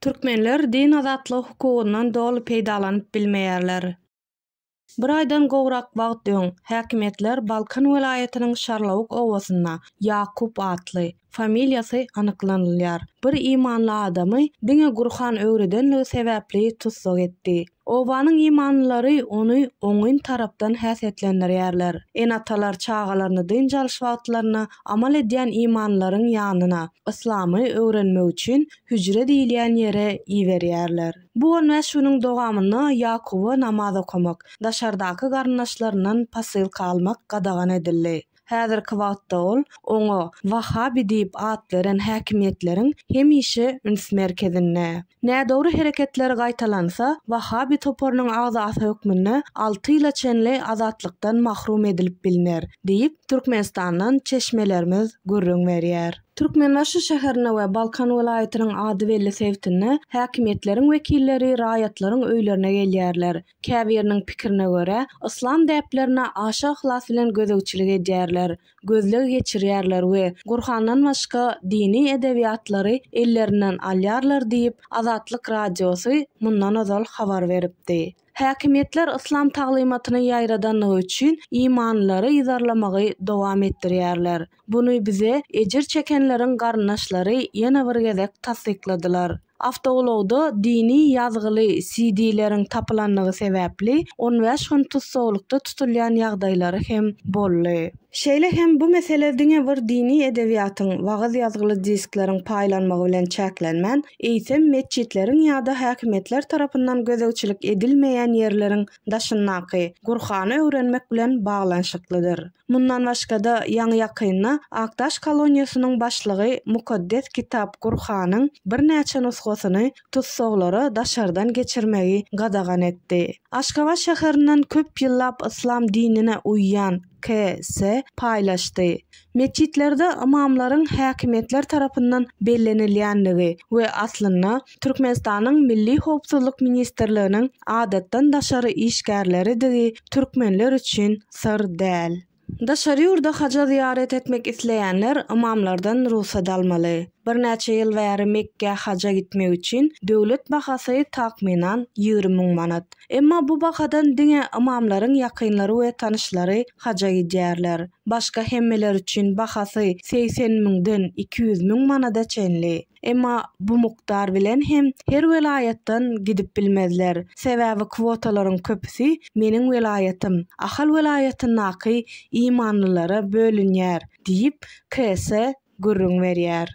Türkmenler din azatlygy hukugyndan doly peýdalanyp bilmeýärler. Bir aýdan gowrak wagt öň, häkimiýetler Balkan welaýatynyň Şarlawuk obasynda Ýakup atly, familiýasy anyklanylýar, bir imanly adamy diňe Gurhan öwredenligi sebäpli tussag etdi. Obanyň imanlylary ony oňyn tarapdan häsiýetlendirýärler. Ene-atalar çagalaryny dynç alyş wagtlarynda amal edýän imanlylaryň ýanyna, yslamy öwrenmek üçin hüjre diýilýän ýere iberýärler. Bu on bäş günüň dowamynda Ýakuba namaz okamak, daşardaky garyndaşlaryndan posylka almak gadagan edildi. Häzirki wagtda ol oňa Wahabi diýip at beren häkimiýetleriň hemişe üns merkezinde. Nädogry hereketleri gaýtalansa, Wahabi toparynyň agzasy hökmünde alty ýyla çenli azatlykdan mahrum edilip bilner diýip, Türkmenistandan çeşmelerimiz gürrüň berýär. Türkmenbaşy şäherinde we Balkan welaýatynyň ady belli sebitinde häkimiýetleriň wekilleri raýatlaryň öýlerine gelýärler. Käbiriniň pikirine görä, yslam däplerine aşa yhlas bilen gözegçilik edýärler, gözleg geçirýärler we Gurhandan başga dini edebiýatlary ellerinden alýarlar diýip, Azatlyk Radiosy mundan ozal habar beripdi. Häkimiýetler yslam taglymatyny ýaýradandygy üçin imanlylary yzarlamagy dowam etdirýärler. Muny bize ejir çekenleriň garyndaşlary ýene bir gezek tassykladylar. Awtoulagda dini ýazgyly CD-leriň tapylandygy sebäpli on bäş gün tussaglykda tutulýan ýagdaýlary hem boldy. Şeýle hem bu mesele diňe bir dini edebiýatyň, wagyz ýazgyly diskleriň paýlanmagy bilen çäklenmän, eýsem metjitleriň ýa-da häkimiýetler tarapyndan gözegçilik edilmeýän ýerleriň daşyndaky Gurhany öwrenmek bilen baglanyşyklydyr. Mundan başga-da, ýaňy-ýakynda Akdaş koloniýasynyň başlygy mukaddes kitap Gurhanyň birnäçe nusgasyny tussaglara daşardan geçirmegi gadagan etdi. Aşgabat şäherinden köp ýyllap yslam dinine uýýan KS. paýlaşdy. Metjitlerde ymamlaryň häkimiýetler tarapyndan bellenilýändigi we aslynda Türkmenistanyň Milli howpsuzlyk ministrliginiň adatdan daşary işgärleridigi türkmenler üçin syr däl. Daşary ýurda haja zyýarat etmek isleýänler ymamlardan rugsat almaly. Birnäçe ýyl bäri Mekgä haja gitmek üçin döwlet bahasy takmynan ýigrimi müň manat. Emma bu bahadan diňe ymamlaryň ýakynlary we tanyşlary haja gidýärler. Başga hemmeler üçin bahasy segsen müňden iki ýüz müň manada çenli. Emma bu mukdar bilen hem her welaýatdan gidip bilmezler. Sebäbi kwotalaryň köpüsi meniň welaýatym, Ahal welaýatyndaky imanlylara bölünýär diýip, KS gürrüň berýär.